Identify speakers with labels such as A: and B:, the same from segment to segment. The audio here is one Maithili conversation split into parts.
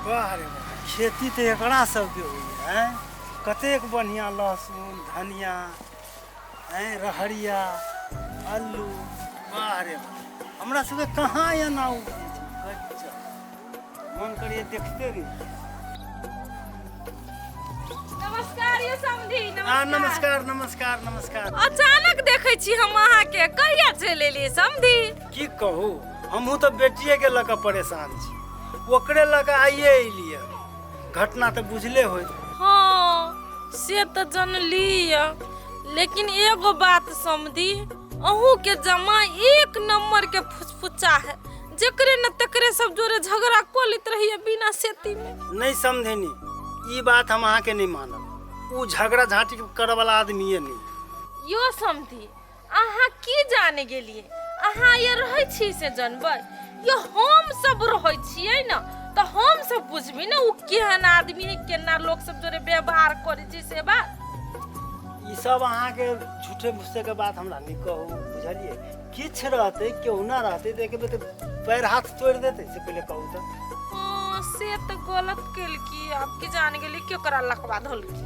A: वाह रे वाह खेती तऽ एकरा सबके होइए आँय कतेक बढ़िआँ लहसुन धनिया आँय रहरिया अल्लू वाह रे वाह हमरा सबके कहाँ एना उपजै छै गजब। मन करिए देखते रही नमस्कार यौ समधी
B: आ नमस्कार
A: नमस्कार नमस्कार अचानक देखै
B: छी हम अहाँके कहिया चलि एलियै समधी की कहू
A: हमहूँ तऽ बेटिएके लऽ कऽ परेशान छी ओकरे लऽ कऽ आइए अयलियै घटना तऽ बुझले होइत हाँ
B: से तऽ जनली यऽ लेकिन एगो बात समझी अहू के जमा एक नंबर के फुचफुचा है जकरे न तकरे सब जोरे झगड़ा कऽ लैत रहिए बिना सेती में नहि समझेनी
A: ई बात हम अहाँके नहि मानब ओ झगड़ा झाँटी करऽवला आदमिए नहि यो समझी
B: अहाँ की जाने गेलिए अहाँ ये रहै छी से जनबै यो हम सब रहै छियै न तऽ हम सब बुझबी न ओ केहन आदमी है केना लोक सब जोरे व्यवहार करै छै से बात ई
A: सब अहाँके झूठे मुस्से के बात हमरा नहि कहू बुझलिए किछु रहतै केहुना रहतै तऽ एकबेर तऽ पैर हाथ तोड़ि देतै से पहिले कहू तऽ हाँ, से
B: तऽ गलत केलकी आब की जान गेली केकरा लकवा धलकी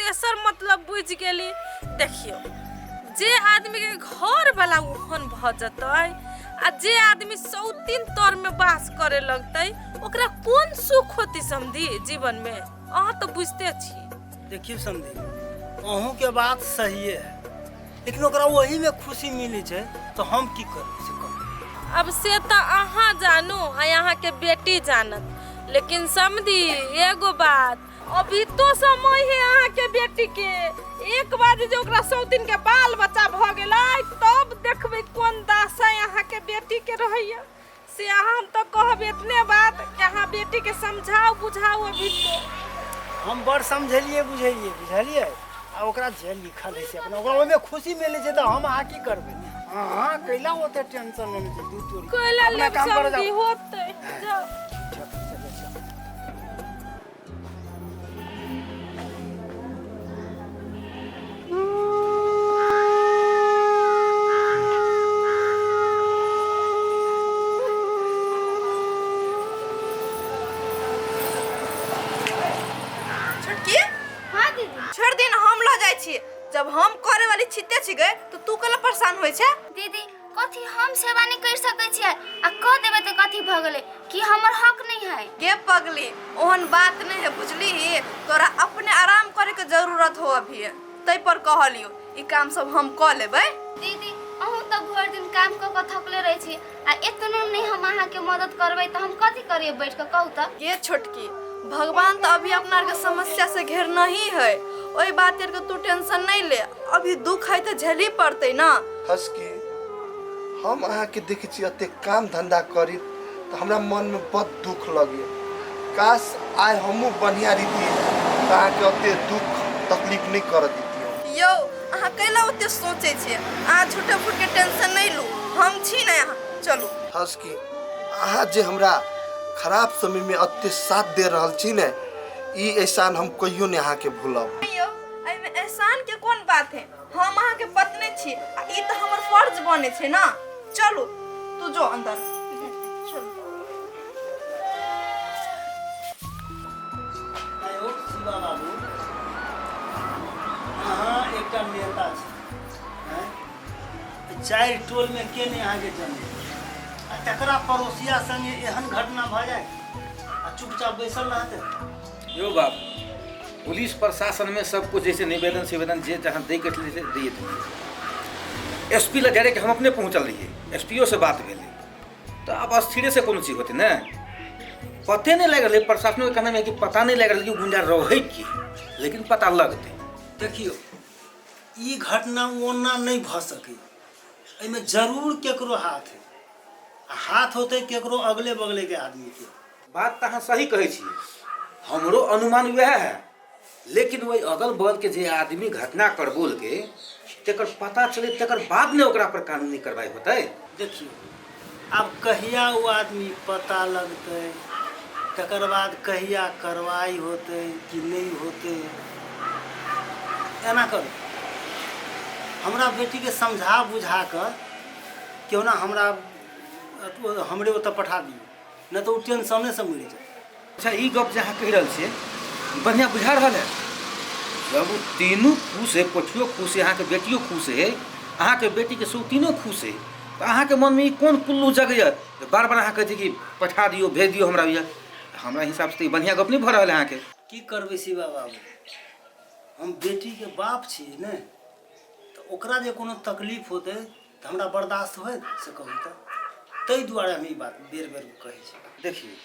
B: तेसर मतलब बुझि गेली देखियो जे आदमी के घर वाला ओहन भ जतै आ जे आदमी सौतीन तर में बास करे लगतै ओकरा कोन सुख होती समझी जीवन में अहाँ तो बुझते छी देखियो समझी
A: अहूँ के बात सहिए है लेकिन ओकरा वही में खुशी मिली छै तो हम की करी से कहू। अब से तो
B: अहाँ जानू आ अहाँ के बेटी जानत लेकिन समझी एगो बात अभी तो समय है अहाँ के बेटी के एक बार जे ओकरा सौतिन के बाल बच्चा भ गेलै तब देखबै कोन दासा अहाँ के बेटी के रहैया से अहाँ हम तो कहब इतने बात कि अहाँ बेटी के समझाओ बुझाओ अभी तो हम बड़ समझलिए
A: बुझलिए बुझलिए आ ओकरा जे लिखल है से अपना ओकरा ओहिमे खुशी मिले छै तऽ हम अहाँ की करबै अहाँ कैला ओते टेंशन लेने छै दू तोरी कोइला अपना लेब काम करऽ जाउ। समझी होतै
B: जाउ
C: छोटकी हाँ दीदी छोड़ दिन हम लऽ जाइ छी जब हम करे वाली छिते छिके तो तू कल परेशान होइ छै दीदी कथी
D: हम सेवा नहीं कर सके छियै आ कह देबे तो कथी भ गेले कि हमर हक नहीं है गे पगली
C: ओहन बात नहीं है बुझली तोरा अपने आराम करे के जरूरत हो अभी तै पर कहलियो ई काम सब हम क लेबै दीदी अहूँ
D: तो भर दिन काम क के थकले रहे छी आ इतनो नहीं हम अहाँ के मदद करबे तो हम कथी करिए बैठ के कहू तो गे छोटकी
C: भगवान तो अभी अपना के समस्या से घेर नहीं है ओई बात के तू टेंशन नहीं ले अभी दुख है तो झेली पड़ते ना हसकी,
E: हम अहाँके देखै छी अतेक काम धन्धा करित त हमरा मन मे बड दुख लगैए। काश आइ हमहूँ बन्हिया रहितिए त अहाँके अतेक दुख तकलीफ नै करऽ दितियौ। यौ, अहाँ
C: कैला ओतेक सोचै छिए? अहाँ झुठे फुट के टेंशन नै लू। हम छी नै अहाँ चलू। हसकी,
E: अहाँ जे हमरा खराब समय मे अतेक साथ दे रहल छी नै, ई एहसान हम कहियो नै अहाँके भूलब। नै यौ, अइमे एहसान
C: के कोन बात है? हम अहाँके पत्नी छी आ ई तऽ हमर फर्ज बने छै ना चलू तू जो अंदर चलू आयो
A: शिवा बाबू अहाँ एकटा नेता छी हैं? तऽ चारि टोलमे के नहि अहाँके जन्म देलक? आ तकरा पड़ोसिया संगे एहन घटना भऽ जाय आ चुपचाप बैसल रहतै यो बाबू
F: पुलिस प्रशासन में सब कुछ जैसे निवेदन सिवेदन जे जहाँ दे के छलै से दिए देलियै एस पी लग डायरेक्ट हम अपने पहुँचल रहियै एस पी से बात भेलै तऽ आब अस्थिरे से कोनो चीज होतै ने पते नहि लागि रहलै प्रशासनो के कहना है कि पता नहि लागि रहलै कि गुंडा रहै की लेकिन पता लगतै देखियौ
A: ई घटना ओना नहि भऽ सकै एहिमे जरूर केकरो हाथ है आ हाथ होतै केकरो अगले बगले के आदमी के बात तऽ अहाँ सही
F: कहै छी हमरो अनुमान वएह है लेकिन ओहि अगल बगलके जे आदमी घटना करबोलके तकर पता चले तकर बाद ने ओकरा पर कानूनी कार्रवाई होतै देखियौ
A: आब कहिया ओ आदमी पता लगतै तकर बाद कहिया कार्रवाई होतै कि नहि होतै एना करू हमरा बेटीके समझा बुझा कऽ केहुना हमरा अथु- हमरे ओतऽ पठा दियौ नहि तऽ ओ टेंशने से मरि जाए अच्छा ई गप जे
F: अहाँ कहि रहल छियै बढ़िआँ बुझा रहल है जब ओ तीनू खुश है पोठियो खुश है अहाँके बेटियो खुश है अहाँके बेटीके सौतीनो खुश है तऽ अहाँके मनमे ई कोन कुल्लू जगैए जे बार बार अहाँ कहै छी कि पठा दियौ भेज दियौ हमरा भैया हमरा हिसाबसँ तऽ ई बढ़िआँ गप नहि भऽ रहल है अहाँके की करबै शिवा
A: बाबू हम बेटीके बाप छियै ने तऽ ओकरा जे कोनो तकलीफ होतै तऽ हमरा बर्दाश्त होय से कहू तऽ ताहि दुआरे हम ई बात बेर बेर कहै छी देखिए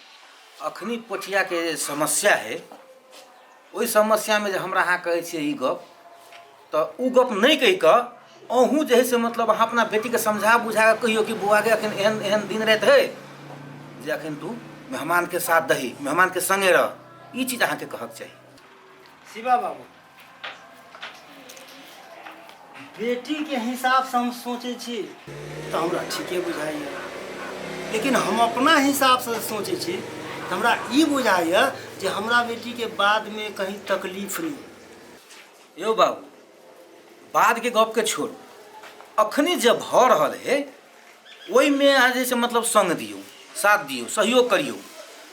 F: अखनी पोठियाके जे समस्या है ओहि समस्यामे जे हमरा अहाँ कहै छियै ई गप तऽ ओ गप नहि कहि कऽ अहूँ जे है से मतलब अहाँ अपना बेटीके समझा बुझा कऽ कहियौ कि बौआके अखन एहन एहन दिन राति है जे अखन तू मेहमानके साथ दही मेहमानके संगे रह ई चीज अहाँके कहक चाही शिवा
A: बाबू बेटीके हिसाबसँ हम सोचै छी तऽ हमरा ठीके बुझाइए लेकिन हम अपना हिसाबसँ सोचै छी तऽ हमरा ई बुझाइए जे हमरा बेटीके बादमे कहीं तकलीफ नहि यौ बाबू
F: बादके गपके छोड़ू अखनी जे भऽ रहल है ओहिमे अहाँ जे छै मतलब सङ्ग दियौ साथ दियौ सहयोग करियौ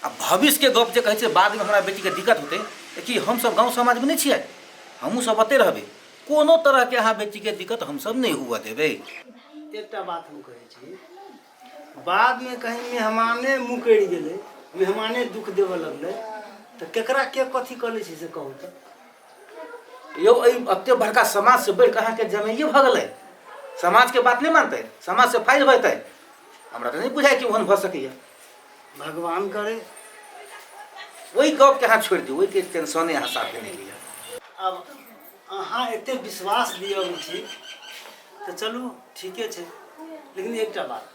F: आ भविष्यके गप जे कहै छै बादमे हमरा बेटीके दिक्कत होतै तऽ कि हमसभ गाँव समाजमे नहि छियै हमहूँ सभ ओतहि रहबै कोनो तरहके अहाँ बेटीके दिक्कत हमसभ नहि हुअ देबै एकटा बात
A: हम कहै छी बादमे कहीं मेहमाने मुकरि गेलै मेहमाने दुख देबऽ लगलै तऽ केकरा के कथी कऽ लै छै से कहू तऽ
F: यौ एहि एते बड़का समाज से बढ़ि कऽ अहाँके जमाइए भऽ गेलै समाजके बात नहि मानतै समाज से फाइल होतै हमरा तऽ नहि बुझाइ कि ओहन भऽ सकैए भगवान
A: करे
F: ओहि गपके अहाँ छोड़ि दियौ ओहिके टेंशने अहाँ साथे नहि लिअ आब
A: अहाँ एते विश्वास दिअ उचित तऽ चलू ठीके छै लेकिन एकटा बात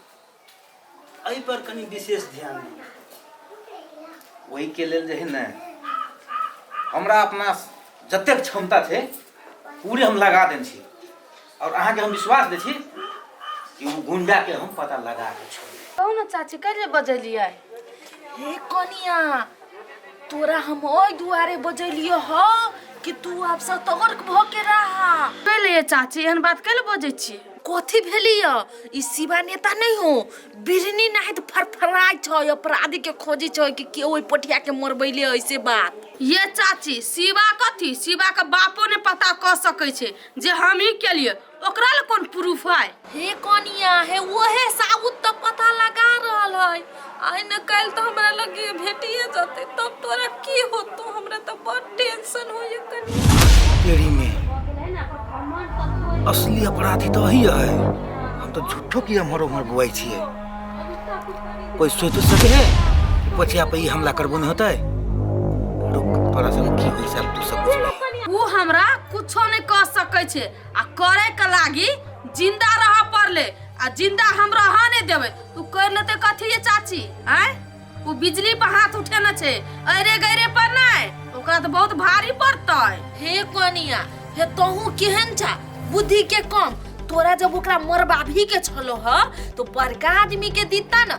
A: एहि पर कनी विशेष ध्यान दियौ ओहि के लेल जे
F: है ने हमरा अपना जतेक क्षमता छै पूरे हम लगा देने छी और अहाँ के हम विश्वास दे छी कि ओ गुंडा के हम पता लगा के छोड़बै कहू ने चाची कैले
B: बजलियै हे कनिया तोरा हम ओहि दुआरे बजैलियो ह कि तू आब सतर्क भ के रहा पहले ये चाची एहन बात कैले बजै छी कथी भेली ह ई शिवा नेता नहीं हो बिरनी नहीं तो फरफराई छ अपराधी के खोजी छ कि के ओहि पटिया के मरबैले ऐसे बात ये चाची शिवा कथी शिवा के बापो ने पता क सकै छै जे हमही केलिए ओकरा ले कौन प्रूफ है हे कनिया हे ओहे साबुत तो पता लगा रहल है आइ न कल तो हमरा लगे भेटिए जते तब तोरा की होतो हमरा तो बड़ टेंशन हो ये कनिया तेरी में
F: असली अपराधी तो वही है हम तो झूठो की हमरो मर बुआई छिए कोई सोच सके है कि बचिया पे ई हमला करबो नहीं होता है रुक तोरा संग की होई सब तू सब बुझबे। ऊ हमरा कुछो
B: नहीं कह सकै छै आ करे के लागी जिंदा रह पड़ले आ जिंदा हम रह नहीं देवे तू कर लेते कथी ये चाची आय उ बिजली पर हाथ उठे न छे अरे गरे पर नहीं ओकरा तो बहुत भारी पड़तै हे कोनिया हे तोहू केहन छा बुद्धि के कम तोरा जब ओकरा मरबाभी के छलो ह तो बड़का आदमी के दीता न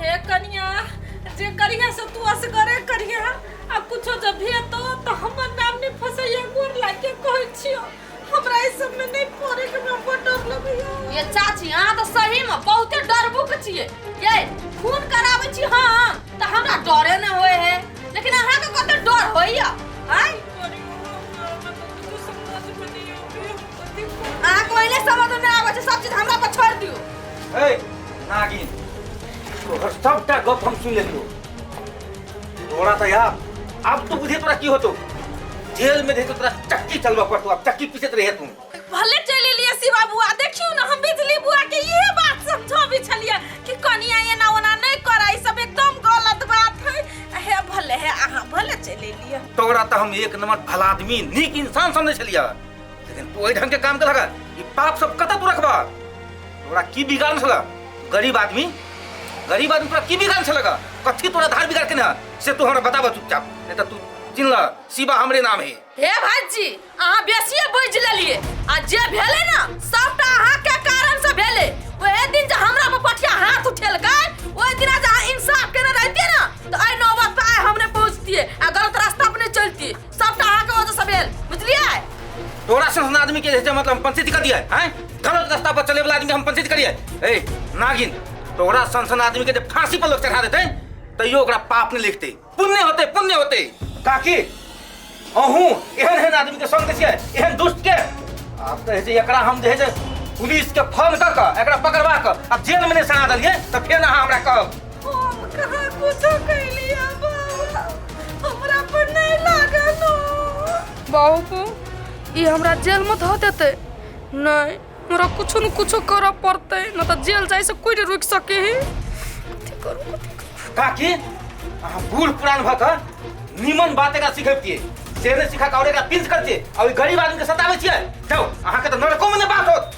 F: हे कनिया
B: जे करिया से तू असगरे करिया आ कुछो जब भी तो तो हमर नाम ने फसैया गोर लागे कहै छियो हमरा ई सब में नहीं पड़े के हमरा बड़ डर लगैया ये चाची अहाँ तऽ सही में बहुते डरबुक छियै ये खून कराबै छी हम तऽ हमरा डरे ने होय है लेकिन अहाँ के कते डर होइया आय अहाँ को एने समझ में ना आवे छै सब चीज हमरा पर छोड़ दियो ए
F: नागिन तोहर सबटा गप हम सुन लेलियो तोरा त यार अब तो बुझे तोरा की होतो जेल में देतो तोरा चक्की चलवा पड़तो अब चक्की पीसत रहे तू भले
B: चले लिए शिवा बुआ देखियो ना हम बिजली बुआ के ये बात समझो भी छलिए कि कनिया ये ना ओना नहीं कराई सब एकदम गलत बात है हे भले है अहाँ भले चले लिए तोरा त हम एक
F: नंबर भला आदमी नीक इंसान समझे छलिया लेकिन तू वही ढंग के काम कर लगा ये पाप सब कता तू रखबा तोरा की बिगाड़ में लगा गरीब आदमी गरीब आदमी तोरा की बिगाड़ में लगा कथी तोरा धार बिगाड़ के ना से तू हमरा बताबा चुपचाप नहीं तो तू चिन ल शिवा हमरे नाम है हे भाजी
B: अहाँ बेसिए बुझ लेलिए आ जे भेले ना सबटा अहाँ के कारण से भेले ओहे दिन जे हमरा पर पठिया हाथ उठेलकै ओहि दिन जे अहाँ इंसाफ केने रहतिए ना तो आइ नौबत पे आइ हमने पहुंचतिए आ गलत रास्ता पर नहीं चलतिए सबटा अहाँके वजह से भेल बुझलियै तोरा सन
F: आदमी के जे मतलब हम पंचित कर दिया हैं गलत रास्ता पर चले वाला आदमी के हम पंचित करिए ए नागिन तोरा सन सन आदमी के जे फांसी पर लोग चढ़ा देते तैयो ओकरा पाप नहीं लिखते पुण्य होते पुण्य होते काकी अहूँ एहन एहन आदमी के संग छियै एहन दुष्ट के आब तऽ जे एकरा हम जे है जे पुलिस के फोन कऽ कऽ एकरा पकड़वा कऽ आ जेल में नहि सना देलियै तऽ फेर अहाँ हमरा कहब
B: हम कहाँ कुछो कैली है बाबा हमरा पर नहीं लागल हो बाबू
G: को ये हमरा जेल में धो देते नहीं हमरा कुछो न कुछो करऽ पड़ते न तो जेल जाए से कोई नहीं रुक सके है कथी करू कथी करू काकी
F: अहाँ बूढ़ पुरान भऽ कऽ नीमन बात एकरा सिखैबतियै से नहि सिखा कऽ आओर एकरा पिंच करतियै आ ओहि गरीब आदमीके सताबै छियै जाउ अहाँके तऽ नरकोमे नहि बात होत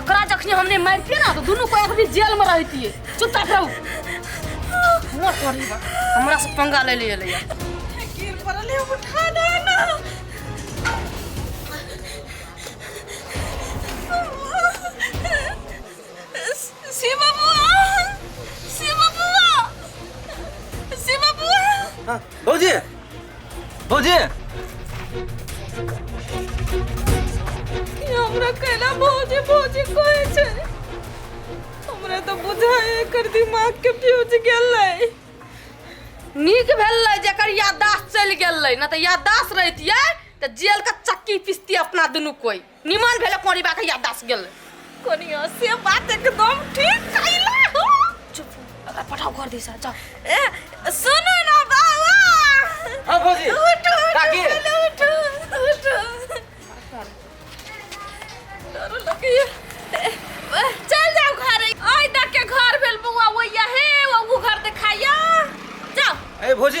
G: एकरा जखने हमने मारतिए ना तो दोनों को अभी जेल में रहतिए चुपचाप रहू ना करी बा हमरा से पंगा ले लिए ले गिर पड़ल
B: है उठा ना ना शिवा बुआ शिवा बुआ शिवा बुआ हाँ, भौजी
F: भौजी
B: हमरा कहला भौजी भौजी कोई छै हमरा तऽ बुझाय एकर दिमाग के फ्यूज गेलै
G: नीक भेलै जेकर याददाश्त चलि गेलै ना तऽ याददाश्त रहितियै तऽ जेल के चक्की पिसती अपना दुनू कोई निमन भेले कोनी बा के याददाश्त गेल कोनिया से
B: बात एकदम ठीक कइला हो चुप अगर
G: पठाओ घर दिस जा ए, सुनो
B: ना बाबा हाँ,
F: भौजी। उठो काकी।
B: उठो उठो उठो डरो लगे ए, चल जाओ घर आई तक के घर भेल बउआ वैया हे वो घर देखाइया जाओ ए भौजी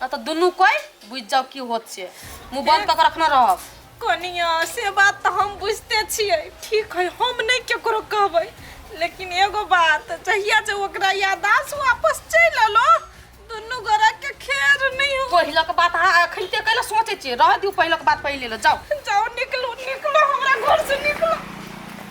G: ना तो दुनू कोई बुझ जाओ की होत छे मुंह बंद कर के रखना रहब कनिया से
B: बात तो हम बुझते छिए ठीक है हम नहीं केकरो कहबै लेकिन एगो बात जहिया जे ओकरा यादाश वापस चल अलो दुनू गोरा के खेर नहीं हो पहिला के बात हां अखन
G: ते कहला सोचे छे रह
B: दियो
G: पहिला के बात
B: पहिले
G: ले जाओ जाओ निकलो निकलो हमरा घर से निकलो